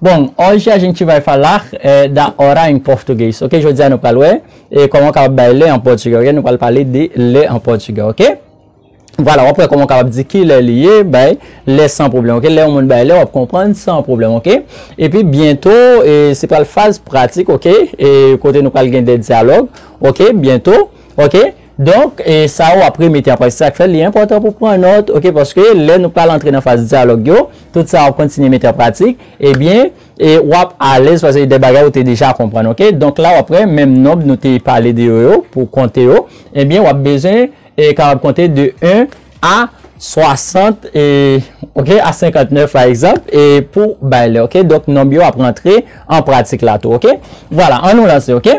Bon, hoje a gente vai falar da hora em português, ok Jodi a nou pral wè kòman ou kapab bay lè an pòtugè, ok Nou pral pale de lè an pòtugè, ok Vwala, w ap wè kòman ou kapab di ki lè li ye, bay lè san pwoblèm, ok Lè yon moun bay lè, w ap konprann san pwoblèm, ok Epi byento, se pral faz pratik, ok Kote nou pral gen de dyalòg, ok Byento, ok. Donk, sa ou ap remete an prati, sa k fè li enpòtan pou pran nòt, ok, paske lè nou pral antre nan faz dyalòg yo, tout sa ou ap kontinye mete an pratik, ebyen, w ap alèz paske se de bagay ou te deja konprann, ok. Donk la ou ap wè menm nonb nou te pale de yo yo, pou konte yo, ebyen w ap bezwen kapab konte de 1 a 60, ok, a 59 pa egzanp, e pou bay lè, ok. Donk nonb yo ap rantre an pratik la tou, ok. Vwala, an nou lanse, ok.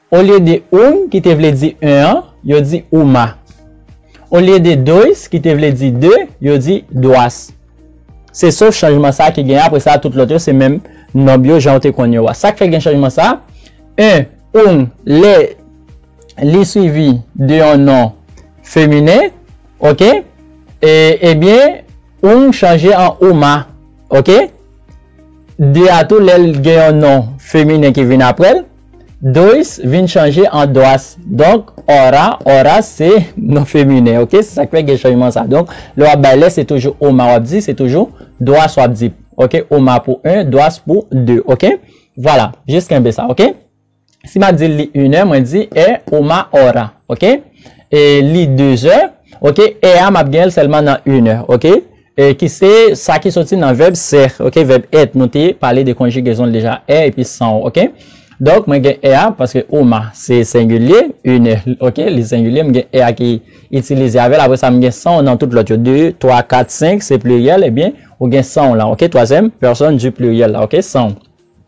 Olye de un, ki te vle di un an, yo di uma. Olye de dois, ki te vle di de, yo di duas. Se sof chanjman sa a ki genyen, apre sa a tout lòt yo se menm nonb yo jan ou te konn yo a. Sa k fè gen chanjman sa a? Un, un, lè li suivi de yon non feminen, oke, e, ebyen, un chanje an uma, oke. De a tou lè l gen yon non feminen ki vin apre l, Dois vin chanje an Doas donk Ora, Oras se non feminen ok se sak fè gen chanjman sa donk lè wap bay lè se toujou Oma wap di se toujou Doas wap di ok Oma pou 1 Doas pou 2 ok vwala jis kenbe sa ok si map di li inè mwen di è Oma Ora ok e li dezè ok è a map genl sèlman nan inè ok. E ki se sa ki soti nan vèb ser ok vèb être nou te pale de konjigezon l deja er epi san w ok donk mwen gen er a paske uma se sengilye une ok li sengilye m gen er a ki itilize avè l apre sa m gen san w nan tout lòt yo de twa kat senk se pliryèl ebyen ou gen san w lan ok twazyèm pèsòn di pliryèl la ok san w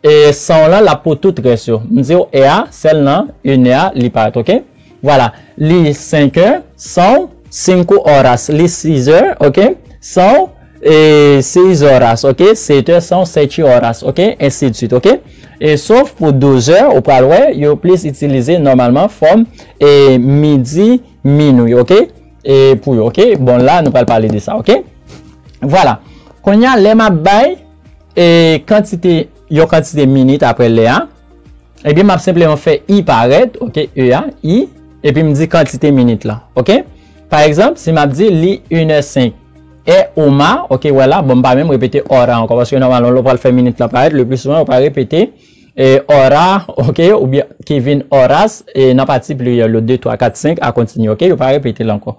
E sanw lan lap pou tout res yo. M diw e a sel nan une heure li paret ok Voilà li 5 heures sanw 5 horas li 6 heures ok sanw e 6 horas ok 7 heures sanw 7 horas ok ainsi de suite ok e sof pou 12 heures ou pral wè yo plis itilize normalman fòm e midi minuit ok e pou yo ok bon la nou pral pale de sa ok Voilà kounya lè map bay E kantite, yon kantite minit apre lè a, ebyen m ap senpleman fè i parèt, ok, e a, i, epi m di kantite minit lan, ok. Pa egzanp, si m ap di li inè senk, è oma, ok, wè la, bon m pa menm repete ora ankò, paske nòmalman lè w pral fè minit lan parèt, le pli souvan ou pa repete e ora, ok, oubyen Kevin Horace e nan pati pliryèl yo, de, twa, kat, senk, a kontinye, ok, yo pa repete l ankò.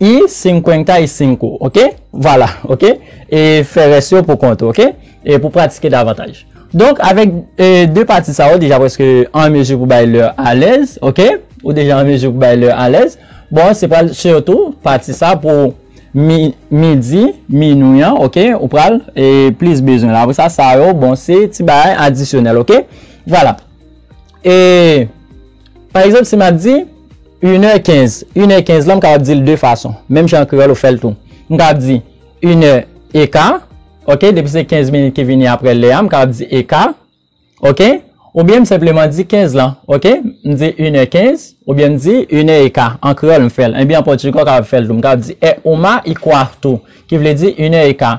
Y cincuenta y cinco ok vwala ok e fè rès yo pou kont ou ok e pou pratike davantaj donk avèk e de pati sa ou deja prèske an mezi pou bay lè alèz ok ou deja an mezi pou bay lè alèz bon se pral sitou pati sa pou mi midi minui an ok ou pral e plis bezwen la apresa sa yo bon se ti bagay adisyonèl ok vwala e. Pa egzanp, si m ap di, Inè kenz. Inè kenz la, m kapab di l de fason. Menm jan an kreyòl ou fè l tou. M kapab di, Inè eka. Ok? Depi se kenz minit ki vini apre lè a, m kapab di eka. Ok? Oubyen m senpleman di kenz lan. Ok? M di inè kenz. Oubyen m di inè eka. An kreyòl m fè l. Enben an pòtigè ou kapab fè l tou. M kapab di, É uma e quarto. Ki vle di inè eka.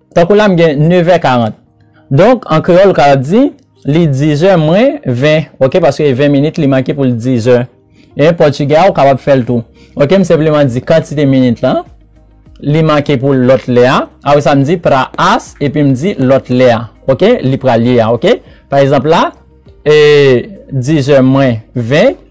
Tankou la m gen nevè karant. Donk, an kreyòl ka di, Li dizè mwen ven, ok, paske e ven minit li manke pou l dizè. En pòtigè a ou kapab fè l tou. Ok, m senpleman di kantite minit lan, li manke pou l lòt lè a. Apre sa m di pra as epi m di lòt lè a, ok, li pral ye a, ok. Pa egzanp la, e dizè mwen ven.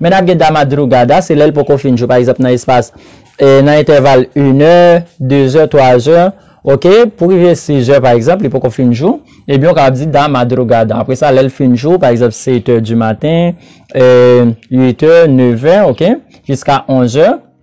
Men n ap gen damadrugada, se lè l poko fin jou, pa egzanp nan espas, nan entèval inè, dezè, twazè, ok, pou rive sizè pa egzanp, li poko fin jou, ebyen ou kapab di damadrugada. Apre sa, lè l fin jou, pa egzanp setè di maten, uitè, nevè, ok, jiska onzè.